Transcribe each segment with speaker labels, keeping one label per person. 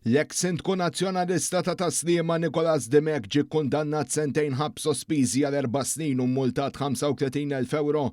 Speaker 1: L-eks Sindku Nazzjonalista ta' Tas-Sliema Nicholas Dimech ġie kkundannat sentejn ħabs sospiżi għal erba' snin u mmultat 35,000 ewro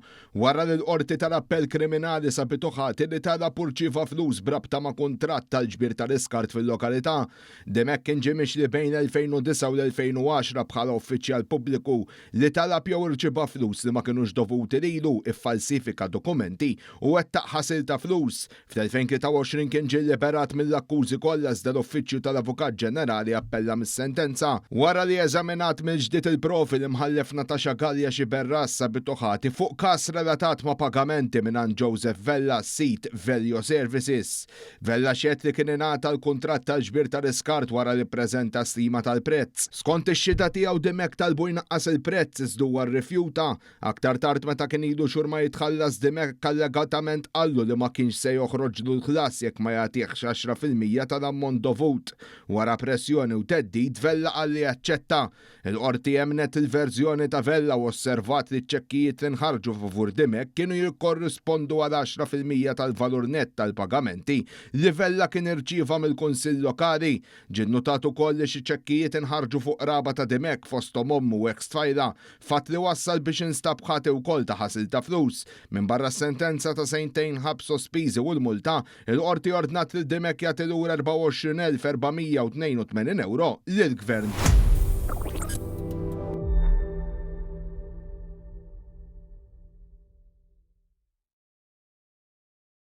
Speaker 1: wara li l-Qorti tal-Appell Kriminali sabitu ħati li talab u rċieva flus b'rabta ma' kuntratt tal-ġbir tal-iskart fil-lokalità. Dimech kien ġie mixli bejn l-2009 u l-2010 bħala uffiċjal pubbliku li talab jew irċieva flus li ma kinux dovuti lilu, iffalsifika dokumenti u wettaq ħasil ta' flus. Fl-2023 kien ġie liberat mill-akkużi kollha iżda l-Uffiċċju tal-Avukat Ġenerali appella mis-sentenza wara li eżaminat mill-ġdid il-provi li Mħallef Natasha Galea Sciberras sabitu ħati fuq każ relatat ma' pagamenti mingħand Joseph Vella sid Velio Services. Vella xehed li kien ingħata l-kuntratt tal-ġbir ta' riskart wara li ppreżenta stima tal-prezz. Skont ix-xhieda tiegħu Dimech talbu jnaqqas il-prezz iżda huwa rrifjuta. Aktar tard meta kien ilu xhur ma jitħallas Dimech allegatament qallu li ma kienx se joħroġlu l-ħlas jekk ma jagħtihx għaxra fil-mija tal-ammont dovut. Wara pressjoni u theddid, Vella qal li jaċċetta. Il-Qorti emmnet il-verżjoni ta' Vella u osservat li ċ-ċekkijiet li nħarġu favur Dimech kienu jikkorrispondu għal għaxra fil-mija tal-valur nett tal-pagamenti li Vella kien irċieva mill-Kunsill Lokali. Ġie nnutat ukoll li xi ċekkijiet inħarġu fuq qraba ta' Dimech fosthom ommu u eks-tfajla Fatt li wassal biex instab ħati wkoll ta' ħasil ta' flus. Minbarra s-sentenza ta' sentejn ħabs sospiżi u l-multa, il-Qorti ordnat lil Dimech jagħti lura 24,482 ewro lill-Gvern.